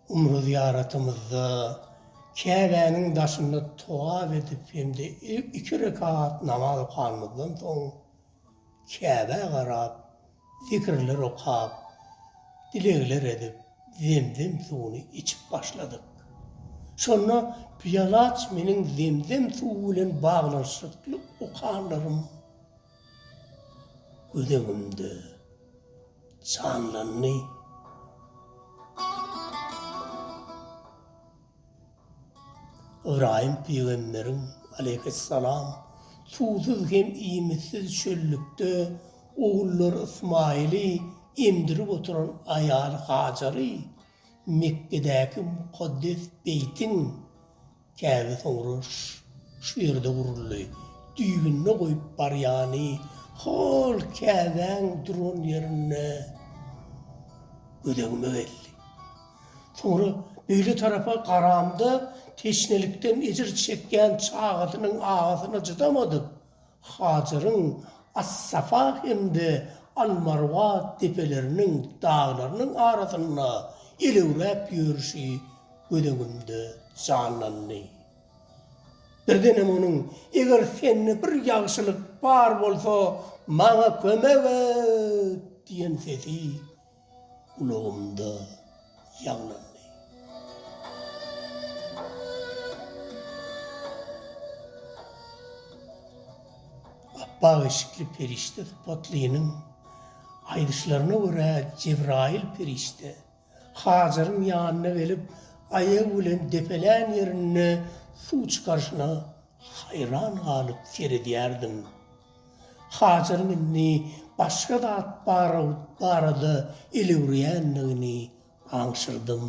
Umry zyýaratymyzda Käbäniň daşynda togap edip hem-de iki rekat namaz okanymyzdan soň, Käbä garap, Zikirler okap, dilegler edip, zemzem suwuny içip başladyk. Şonda Pyýalaç meniň zemzem suwy bilen baglanyşykly okanlarym göz öňümde janlandy. Ybraýym pygamberiň, aleýhyssalam, suwsuz hem iýmitsiz çöllükde ogullary Ysmaýyly emdirip oturan aýaly Hajary Mekgedäki mukaddes beýtiň, Käbe soňra şu ýerde guruldy, düýbünde goýup barýany hol Käbäň duran ýerinde gözegime geldi. Soňra beýle tarapa garamda teşnelikden ejir çekýän çagasynyň agysyna çydamadyk Hajaryň As-Safa hem-de Al-Marwa depeleriniň, daglarynyň arasynda elewräp ýörşi göz öňümde janlandy. Birdenem onuň, Eger sende bir ýagşylyk bar bolsa, maňa kömek et! diýen sesi Gulagymda ýaňlandy. Apbak eşikli perişde sypatlynyň aýdyşlaryna görä, Jebraýyl perişde Hajaryň ýanyna gelip, aýagy bilen depelän ýerinde suw çykaryşyna Haýran galyp seredýärdim. Hajaryň indi başga zat barada elewreýändigini aňşyrdym.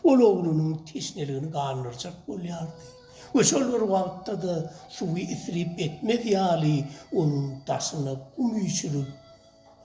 Ol oglunyň teşneligini gandyrjak bolýardy we şol bir wagtda-da suwy isrip etmez ýaly onuň daşyna gum üýşürip,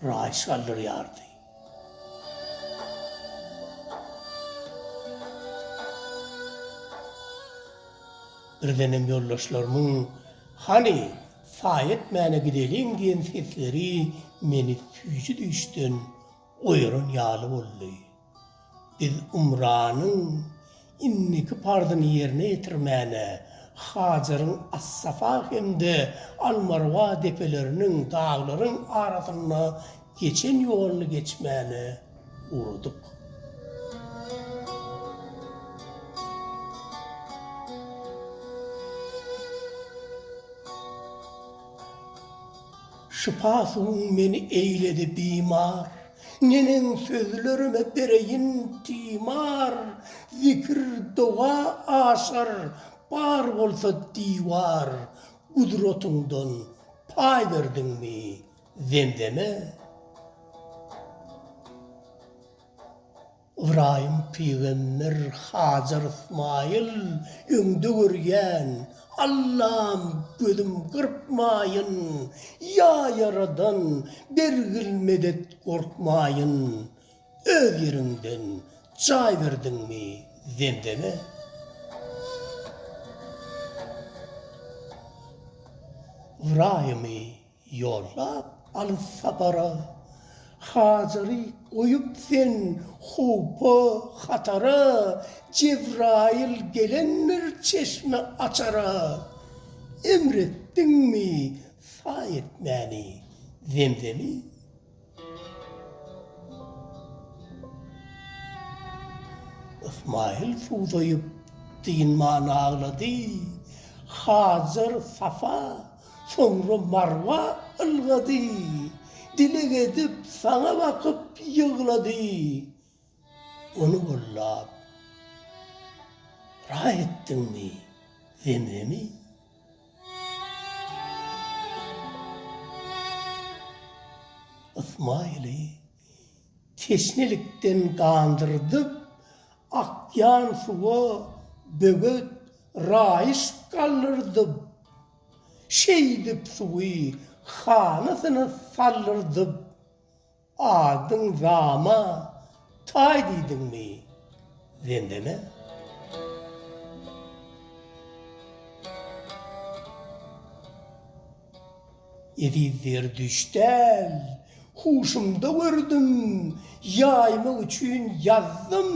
raýys galdyrýardy. Birdenem ýoldaşlarymyň Hany, saýa etmäne gideliň diýen sesleri meni süýji düýşden oýaran ýaly boldy. Biz Umranyň indiki parzyny ýerine ýetirmäne Hajaryň As-Safa hem-de Al-Marwa depeleriniň, daglaryň, arasynda geçen ýoluny geçmäne ugradyk. Şypa suwuň meni eýledi bimar. Neneň sözlerime bereýin timar, Zikir, doga aşar, bar bolsa diwar. Gudratyňdan paý berdiňmi Zemzeme? Ybraýym pygamber, Hajar Ysmaýyl, öňde görýän, Allam, gözüm gyrpmaýyn, ýa Ýaradan, bergil medet, gorkmaýyn, öz ýeriňden jaý berdiňmi Zemzeme? Ybraýymy Ýollap alys sapara. Hajary goýup sen howpa, hatara, Jebraýyl gelendir çeşme açara. Emr etdiňmi saý etmäni Zemzemi? Ysmaýyl suwdaýyp, dynman aglady. Hajar Safa, soňra Marwa ylgady. Dileg edip, saňa bakyp ýyglady. Ony gollap, raý etdiňmi, Zemzemi? Ysmaýyly teşnelikden gandyrdyp akýan suwa böwet raýyş galdyrdyp, şeýdip suwy hanasyna saldyrdyp, Adyň Zama taý diýdiňmi Zemzeme? Eziz Zerdüşt däl, huşumda gördüm, Ýaýmak üçin ýazdym,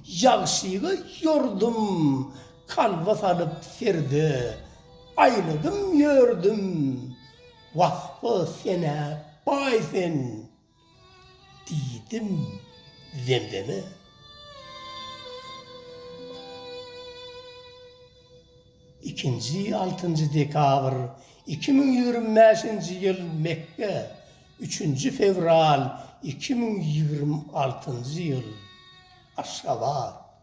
ýagşyga ýordum, Kalba salyp serde aýladym ýördüm. Wah-a, sen-ä baý sen! diýdim Zemzeme. Ikinji, altynjy dekabr, iki müň ýigrimi bäşinji ýyl, Mekge, Üçünji fewral, iki müň ýigrimi altynjy ýyl, Aşgabat.